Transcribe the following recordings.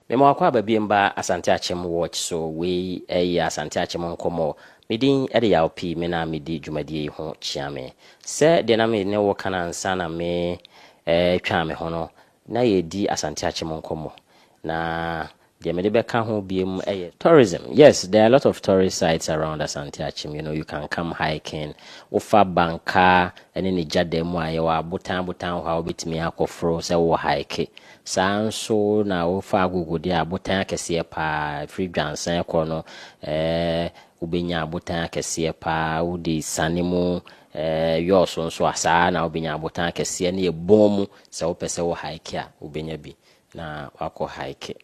Mema wakɔ aba biem ba Asante Akyem watch so wei ɛyɛ Asante Akyem nkɔmmɔ. Me din de Yaw Pii me na me di dwumadie yi ho kyia me. Sɛ deɛ na me ne wo ka no ansa na me retwa me ho no, na yɛredi Asante Akyem nkɔmmɔ. Na deɛ mede bɛka ho biem yɛ. Tourism, yes there are a lot of tourist sites around Asante Akyem, you know you can come hiking, wo fa Banka ne ne gya dam a yɛwɔ abotan abotan hɔ a wobɛtumi akɔ foro sɛ wo hike. Saa ara nso na wofa agogodeɛ a abotan akɛseɛ pa ara, firi dwansɛn kɔ no eh, wobɛnya abotan akɛseɛ pa ara, wode sane mu eh, yɔɔ so nso a, saa ara na wobɛnya abotan akɛseɛ ne ɛbɔn mu, sɛ wopɛ sɛ wo hike a, wobɛnya bi na wakɔ hike.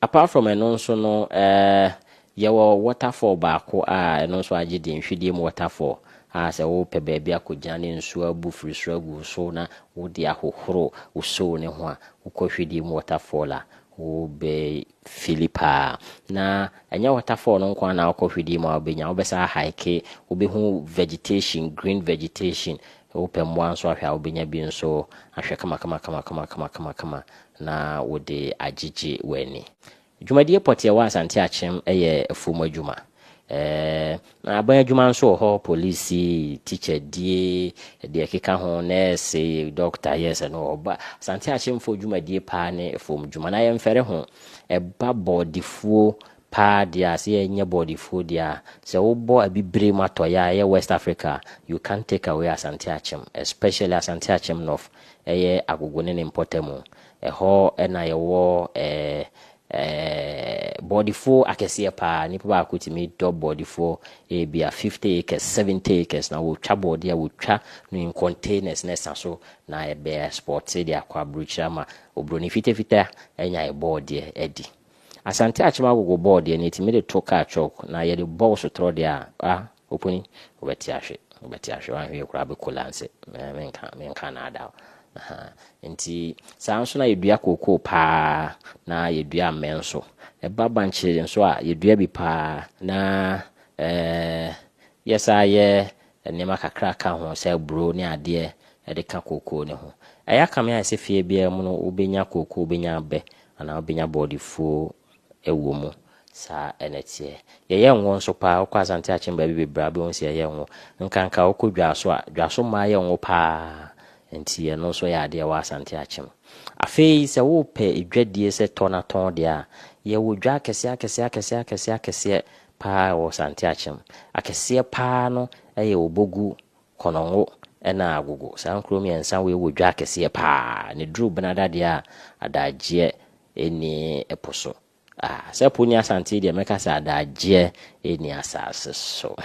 Apart from ɛno nso no eh, Yɛwɔ waterfall baako a ɛno nso agye din, Hwidiam Waterfall, a sɛ wopɛ baabi akɔgyina ne nsuo abu firi soro agu wo so na wode ahohoro wo soo no ho a, wokɔ Hwidiam Waterfall a, wobɛfili paa. Na ɛnyɛ waterfall no nko ara na wokɔ Hwidiam a wobɛnya, wobɛsan ahaeke, wobɛhu vegetation, green vegetation. Wopɛ mmoa nso ahwɛ a, wobɛnya bi nso ahwɛ kamakamakama na wode agyegye w'ani. Dwumadie pɔtee a ɛwɔ Asante Akyem yɛ afuom adwuma. Na aban adwuma nso wɔ hɔ, polisi, tikyadie, deɛ ɛkeka ho, nɛɛse, dɔkta, yes, ɛno wɔ hɔ. Ba Asante Akyemfoɔ dwumadie paa ne afuom dwuma. Na yɛmfɛre ho, ɛba bɔɔdefuo paa deɛ a, sɛ yɛnyɛ bɔɔdefuo deɛ a, sɛ wobɔ abibire mu atɔeɛ a, ɛyɛ West Africa a, you can't take away Asante Akyem, especially Asante Akyem North, ɛyɛ Agogo ne ne mpɔtamu. Ɛhɔ na yɛwɔ bɔɔdefoɔ akɛseɛ pa ara. Nipa baako tumi dɔ bɔɔdefoɔ ebia fifty acres, seventy acres na wɔtwa bɔɔdeɛ a wɔtwa no in containers na ɛsa so na ɛbɛ exporte de akɔ aburokyire ama oburoni fitafita anya bɔɔdeɛ adi. Asante Akyem agogo bɔɔdeɛ no yɛtumi de to car chock na yɛde bɔ wo sotorɔ deɛ a, ah, Opuni, wobɛte ahwe, wobɛte ahwe, wanhwee koraa bɛkola nse, menka, menka anaada wo, ahaa, nti saa ara nso na yɛdua kookoo paa na yɛdua ammɛ nso, ɛba bankye nso a yɛdua bi paa na eh, yɛsaa yɛ nneɛma kakra ka ho sɛ aburo ne adeɛ ɛde ka kookoo ne ho. Ɛyɛ akame ayɛ sɛ fie biara mu no wobɛnya kookoo, wobɛnya abɛ anaa wobɛnya bɔɔdefuo ɛwɔ mu. Saa na ɛteɛ. Yɛyɛ ngo nso paa. Wokɔ Asante Akyem baabi bebree a, wobɛhu sɛ yɛyɛ ngo. Nkanka wokɔ Dwaso a, Dwaso mmaa yɛ ngo paa. Enti ɛno nso yɛ adeɛ wɔ Asante Akyem. Afei sɛ wopɛ dwadie sɛ tɔ na tɔn deɛ a, yɛwɔ dwa akɛseɛ akɛseɛ akɛseɛ akɛseɛ akɛseɛ paa wɔ Asante Akyem. Akɛseɛ paa no yɛ Obogu, Konongo ɛna Agogo. Saa nkuro mmiɛnsa wei wɔ dwa akɛseɛ paa. Ɛduru Benada deɛ a, adagyeɛ Ɛnni ɛpo so. Ah, sɛ po nni asante deɛ mɛka sɛ adagyeɛ ɛnni asase so.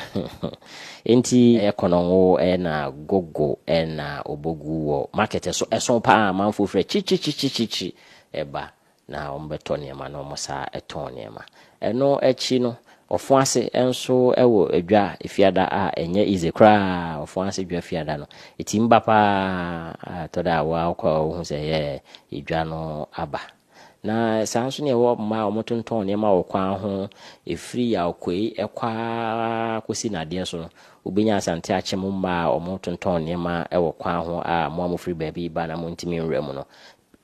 Enti ɛyɛ kɔnɔngo ɛna gogo ɛna ɔbɔgu wɔ market ɛso ɛso paa amanfoɔ firi akyirikyirikyirikyirikyiri ɛba na wɔn bɛtɔ nneɛma na wɔn sa tɔn nneɛma. Ɛno akyi no, wɔfõ ase nso wɔ dwa Fiada a ɛnyɛ easy koraa, wɔfõ ase dwa Fiada no. Etim ba paa a ɛtɔ da a wo ara wokɔ a wohu sɛ yɛɛ dwa no aba. Na saa nso na ɛwɔ mmaa a wɔtontɔn nneɛma wɔ kwan ho, ɛfiri Yaokuei kɔ ara kɔsi Nnadeɛ so no, wobɛnya Asante Akyem mu mmaa a wɔtontɔn nneɛma wɔ kwan ho a mo a mofiri baabi reba na montumi nwura mu no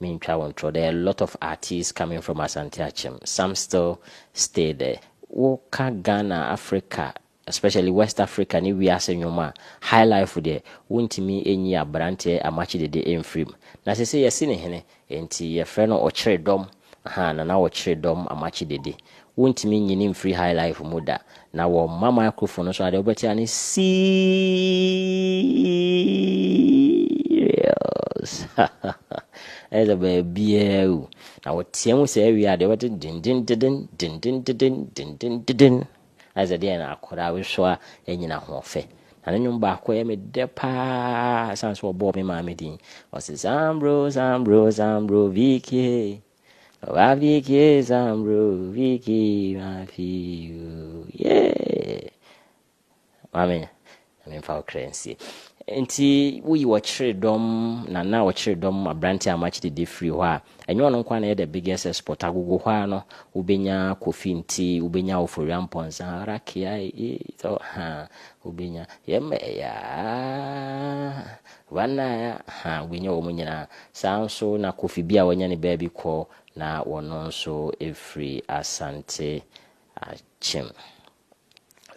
Mentwa wo ntorɔ there are lot of artiste coming from Asante Akyem some still stay there wo ka Ghana Africa especially West Africa ne wiase nwom a Highlife deɛ wo ntumi nyi abranteɛ Amakye Dede mfiri mu na sese yɛse ne hene nti yɛfrɛ no Ɔkyere dɔm ahaa Nana Ɔkyere dɔm Amakye Dede Wontumi nyini mfiri high life mu da. Na wɔmma microphone no so a deɛ wobɛte ara ne Serious Ayɛ sɛ baabiara awu. Na wɔtea mu saa wie a deɛ wobɛte dindindiden, dindindiden, dindindiden Ayɛ sɛ deɛ na akwadaa bi so a anya n'ahoɔfɛ. Na ne nnwom baako yɛ me dɛ pa ara ɛsiane sɛ wɔbɔɔ me maame din. Ɔse Sambro, Sambro, Sambro Vicky hey. Wa viki zambro viki mafiu yeah Mami Mami fa okra nsi nti woyi wɔkyere dɔm na na wɔkyere dɔm aberante a makye dede firi hɔ a ɛnyɛ ɔno nko na ɛyɛ the biggest export agogo hɔ a no wobɛnya kofi nti wobɛnya ofori ampɔnsa rakia ee tɔ ha wobɛnya yɛmma ɛyɛ Wanaya ha wanya wɔn nyinaa. Saa ara nso na Kofi bi a wanya ne baabi kɔ na ɔno nso firi Asante akyem.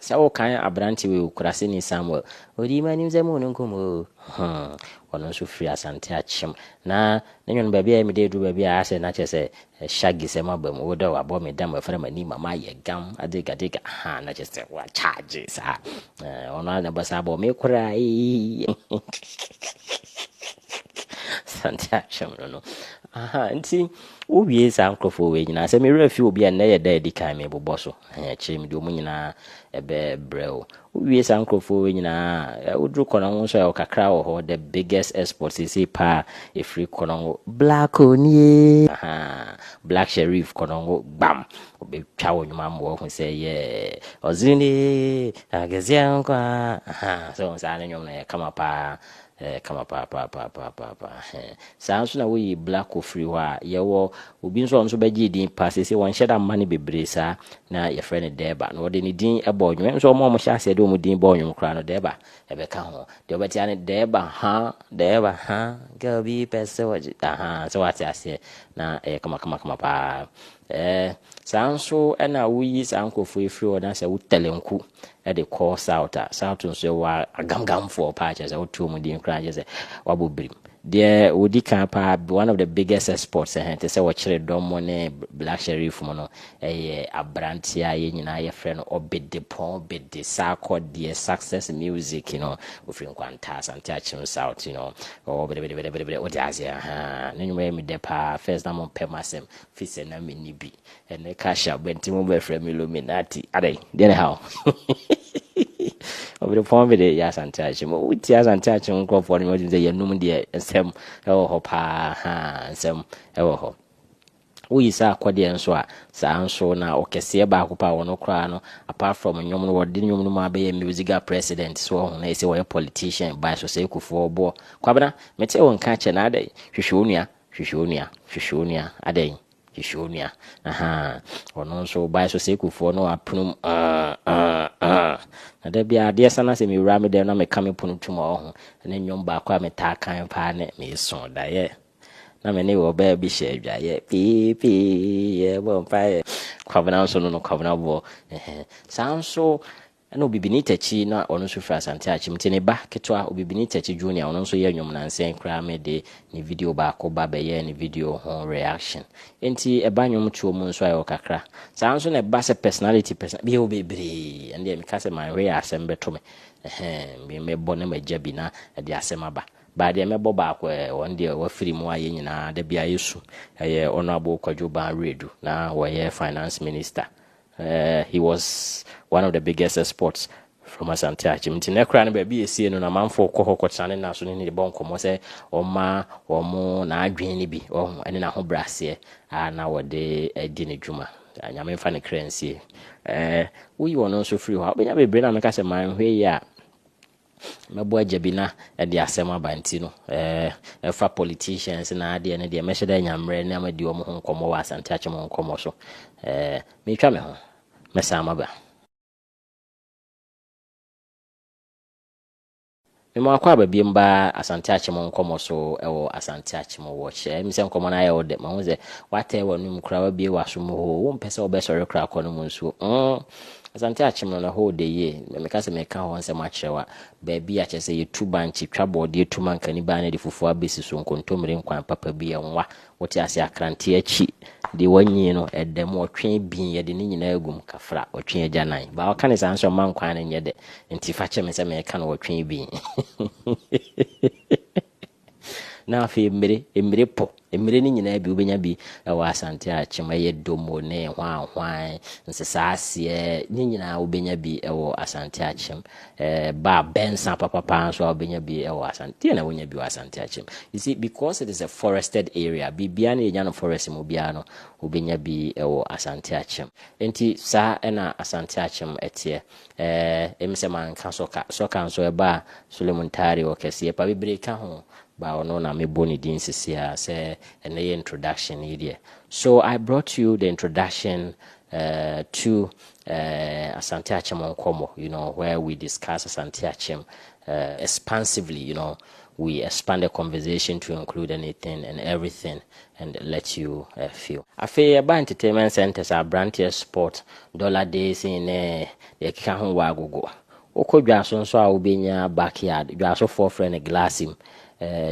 Sɛ wokan aberante wei Okuraseni Samuel, ɔdii m'anim sɛ mo ne nkɔmmɔ o. Hum, ɔno nso firi Asante akyem. Na ne nwon baabi a ɛyɛ me dɛ duru baabi a asɛ na kyerɛ sɛ Eh shaggy sɛ maba mu wo dɛ wabɔ me dam afra m'ani ma mayɛ gam adega dega ahaa na kyerɛ sɛ wa charge saa eh ɔno ara na ɛbɔ saa bɔ me koraa eeii sante atwem no no ahaa nti wo wie saa nkorɔfoɔ wei nyinaa sɛ me werɛ afi obi a nnɛ yɛ da adi kan me bobɔ so eh akyire me de ɔmo nyinaa ɛbɛ brɛ o Wo wie saa nkorɔfoɔ wei nyinaa a, wo duru kɔnɔngo nso a ɔkakra wɔ hɔ, the biggest export seesei paa ɛfiri kɔnɔngo, Blacko nie, ahaa, Black Sherif kɔnɔngo gbam, ɔbɛtwa wo nwoma ma wahu sɛ yeah, Ɔzunee, Akeseɛ nko ara, ahaa, sɛ wohu saa ne nwom no ɛyɛ kama paa, Ɛyɛ kama paapaapaapaapaapa. Hɛn. Saa ara nso na woyi Blacko firi hɔ a, yɛwɔ obi nso a ɔno nso bɛgyee din pa. Seesei wɔnhyɛ da mma no bebree saa. Na yɛfrɛ no Dɛɛba. Na ɔde ne din bɔɔ nnwom. Ɛnso wɔn a wɔhyɛ aseɛ de wɔn din bɔɔ nnwom koraa no, Dɛɛba bɛka ho. Deɛ wobɛte ara ne Dɛɛba ha, Dɛɛba ha, girl bi pɛ sɛ ɔgye, ahaa, sɛ woate aseɛ. Na ɛyɛ kamakamakama paa. Ɛɛ, saa ara nso na woyi saa nkurɔfoɔ yi firi hɔ na sɛ wo Tɛlɛnku. de kɔ south a south nso ɛwɔ agamgamfoɔ paa kyerɛ sɛ wote wɔn din koraa kyerɛ sɛ wabɔ birim deɛ wɔdi kan paa one of the biggest exports ɛhɛn te sɛ wɔkyerɛ dɔm mu ne black sheriff mu no ɛyɛ aberanteɛ a yɛn nyinaa yɛfrɛ no ɔbede pɔn bede saakɔ deɛ success music you know ofiri nkwanta asante akyem south you know ɔwɔ bedebedebedebede wode aseɛ ha ne nwuma yɛ medɛ paa first na mo mpɛ m'asɛm fi sɛ na menni bi Ɛnɛ cash up bɛnti mo bɛfrɛ me illuminati adɛn deɛ ne haw ɔbere pɔn bi de yɛ asante akye mu wotie asante akye mu nkurɔfoɔ no wɔtumi sɛ yɛnum deɛ nsɛm ɛwɔ hɔ paa ha nsɛm ɛwɔ hɔ woyi saa akɔdeɛ nso a saa nso na ɔkɛseɛ baako paa wɔn koraa no apart from nnwom no wɔde nnwom no mu abɛyɛ musical president so ɔho na ɛsɛ wɔyɛ politician by so sɛ ekufoɔ boɔ kwabena mete wo nka kyɛ na adɛn hwehwɛ onua hwehwɛ onua hwehwɛ onua adɛn Hwehwɛ onua. Ahaa. Ɔno nso ɔbae so Sekofoɔ no apono mu ah ah ah. Na da biara adeɛ sa na sɛ mewura me dɛm na meka me pono tom a ɔho. Ne nnwom baako a metaa kan paa ne Meso daeɛ na me ne ɔbaa bi hyɛ adwaeɛ pii pii yɛbɔ mpaeɛ. Kwabena nso no no Kwabena boɔ. Ɛhɛn. Saa nso Ɛna Obibini Takyi no a ɔno nso firi Asante Akyem nti ne ba ketewa Obibini Takyi Junior ɔno nso yɛ nnwom nansa yi koraa me de ne video baako ba bɛyɛɛ ne video ho reaction nti ɛba nnwom toɔ mu nso a ɛwɔ kakra saa nso na ɛba sɛ personality person bi ɛwɔ bebree ɛno deɛ meka sɛ manhwɛ yɛ asɛm bɛto me ɛhɛn me mɛbɔ na magya bi na ɛde asɛm aba baa deɛ mɛbɔ baako ɛɛ wɔn deɛ wɔafiri mu a yɛn nyinaa da biara yɛsu ɛyɛ Honourable Kwadwo Baa Wiredu na wɔyɛ finance minister Eh, he was one of the biggest exports from Asante Achim. Nti na kura no baabi esie no na manfo kɔ hɔ kɔtena ne naso ne ne bɔ nkɔmmɔ sɛ ɔma wɔn n'adwene no bi wɔn ne n'ahobraseɛ a na wɔde adi ne dwuma. Nyame mfa ne kra nsie. Eh, woyi wɔn nso firi hɔ a wobɛnya bebree na meka sɛ manhwɛ yi a Mɛbɔ agya bi na ɛde asɛm aba nti no ɛɛ ɛfa politicians na adeɛ no deɛ mɛhyɛ dɛ anya mmerɛ na madi wɔn ho nkɔmmɔ wɔ Asante Akyem nkɔmmɔ so. Ɛɛ meretwa me ho. Mɛsan maba. Me ma wakɔ aba biam ba Asante Akyem nkɔmmɔ so ɛwɔ Asante Akyem Watch. Ɛɛ mi sɛ nkɔmmɔ no ayɛ wo dɛ. Mahu sɛ watɛɛ w'anum koraa wabie w'aso mu hoo. Wompɛ sɛ wobɛsɔre koraa kɔ no mu nsuo. Mm. Asante akyem no na hɔ ɔdɛ yie. Meka sɛ meka hɔ nsɛm akyerɛ wo a, baabi a kyerɛ sɛ yɛtu bankye, twa bɔɔdeɛ, tu mankani baa na de fufuo abɛsi so, nkontommire nkwan papa bi, ɛnwa, wote aseɛ, akranteɛ akyi, deɛ wɔanyin no, ɛda mu, ɔtwe abien, yɛde ne nyinaa agu mu, kafra, ɔtwe agyanan. Baa ɔka no saa nso mma nkwan no nyɛ dɛ, nti fa kyɛ me sɛ meka no ɔtwe abien. Na afei mmire, mmire po, mmire no nyinaa bi, wobɛnya bi wɔ Asante Akyem, ɛyɛ Domo ne hwanhwan, Nsesaaseɛ, ne nyinaa wobɛnya bi wɔ Asante Akyem. Ba a, Bɛnsa papapa nso a wobɛnya bi wɔ Asante, deɛ na wonya bi wɔ Asante Akyem. You see, because it is a forested area, biribiara no yɛnya no forest mu biara no, wobɛnya bi wɔ Asante Akyem. Enti saa na Asante Akyem teɛ. Ɛɛ, emi sɛ manka sɔka. Sɔka nso ɛba a, Solomon Tare ɔkɛseɛ pa bebree ka ho, but ɔno na mebɔ ne din sisi a sɛ ɛno yɛ introduction yi deɛ. So I brought you the introduction eh, to eh, Asante Akyem Nkɔmmɔ, you know, where we discuss Asante Akyem eh, expansively, you know, we expand the conversation to include anything and everything and let you feel. Afei ɛba entertainment centres a abranteɛ sport, dollar days in ne deɛ ɛkeka ho wɔ agogo. Wokɔ dwaso nso a wobɛnya back yard, dwasofoɔ frɛ no glass mu,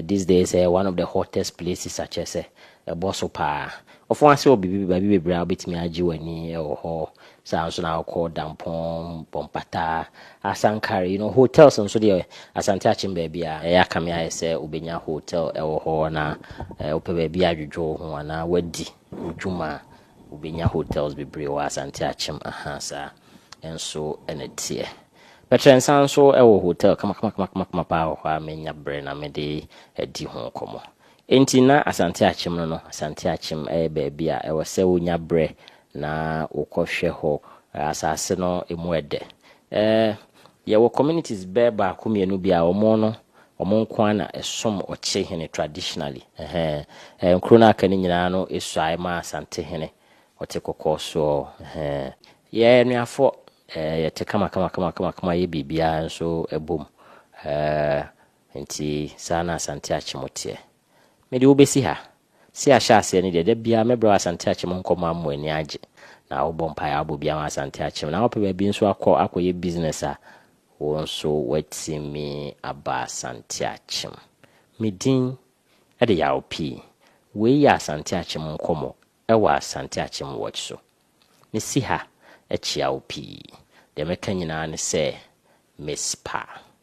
these days ɛyɛ one of the hottest places akyerɛ sɛ ɛbɔ so paa. Ɔfɔn ase wɔ biribi baabi bebree a wobɛtumi agye w'ani wɔ hɔ Saa ara nso na wokɔ Dampɔn, Bɔmpata, Asankare, you know, hotels nso deɛ Asante Akyem baabi a ɛyɛ aka me ayɛ sɛ wobɛnya hotel wɔ hɔ na wopɛ baabi adwodwo wo ho anaa woadi wo dwuma a, wobɛnya hotels bebree wɔ Asante Akyem. Aha, saa nso na ɛteɛ. Bɛkyerɛ nsa nso wɔ hotel kamakamakama paa wɔ hɔ a menya berɛ na mede adi ho nkɔmmɔ. Enti na Asante Akyem no no, Asante Akyem yɛ baabi a ɛwɔ sɛ wonya berɛ Na wokɔhwɛ hɔ a, asase no emu ɛdɛ. Ɛɛ, yɛwɔ communities bɛyɛ baako mmienu bi a wɔn no, wɔn nko ara na ɛsom Ɔkyehene traditionally. Ɛhɛn. Ɛɛ, nkuro no a aka no nyinaa no suae maa Asantehene, ɔte kɔkɔɔ soɔ. Ɛhɛn. Yɛn anuafoɔ, ɛɛ, yɛte kamakamakama yɛ biribiara nso bom. Ɛɛ, nti saa na Asante Akyem teɛ. Mede wo bɛsi ha. Sɛ ahyɛ aseɛ no deɛ, da biara mɛbrɛ wo Asante Akyem nkɔmmɔ ama w'ani agye. Na wobɔ mpaeɛ a, wobɔ bi ama Asante Akyem. Na wopɛ baabi nso akɔ akɔyɛ business a, wo nso woatumi aba Asante Akyem. Me din de Yaw Pii. Wei yɛ Asante Akyem nkɔmmɔ wɔ Asante Akyem Watch so. Mesi ha kyea wo pii. Deɛ mɛka nyinaa ne sɛ, Mespah.